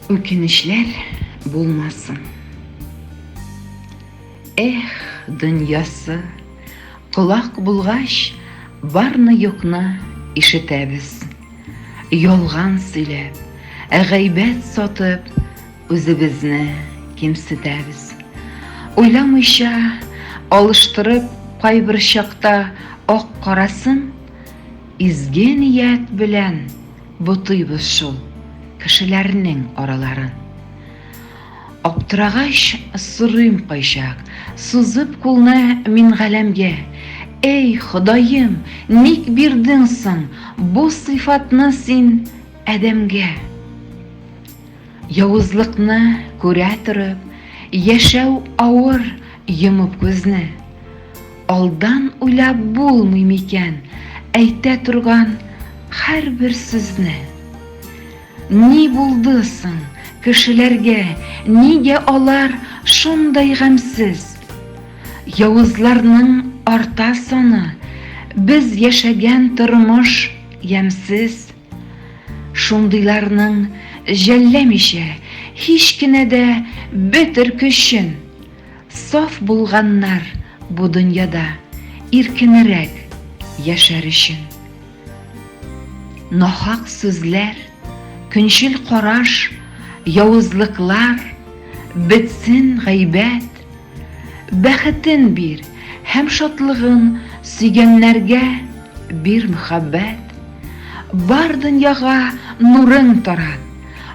Үкенечләр булмасын. Эх, дөньясы, колак булгач, барны юкны ишетәбез. Ялган сөйләп, ә гайбәт сатып, үзебезне кимсетәбез. Уйламыйча, алыштырып, кайбер чакта ак карасын, изге ният белән ботыйбыз шул кешеләрнең араларын. Аптырагач сорыйм кайчак, сузып кулны мин галәмгә, Эй, Ходаем, ник бирдең соң бу сыйфатны син адәмгә? Явызлыкны күрә торып, яшәү авыр йомып күзне. Алдан уйлап булмый микән әйтә торган һәрбер сүзне? Ни булды соң кешеләргә, нигә алар шундай гамьсез? Явызларның арта саны, без яшәгән тормыш ямьсез. Шундыйларның җәлләмичә һич кенә дә бетер көчен. Саф булганнар бу дөньяда иркенерәк яшәр өчен. Нахак сүзләр, көнчел караш, явызлыклар, бетсен гайбәт. Бәхетен бир һәм шатлыгын сөйгәннәргә бир мөхәббәт. Бар дөньяга нурың тарат,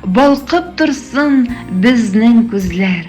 балкып торсын безнең күзләр.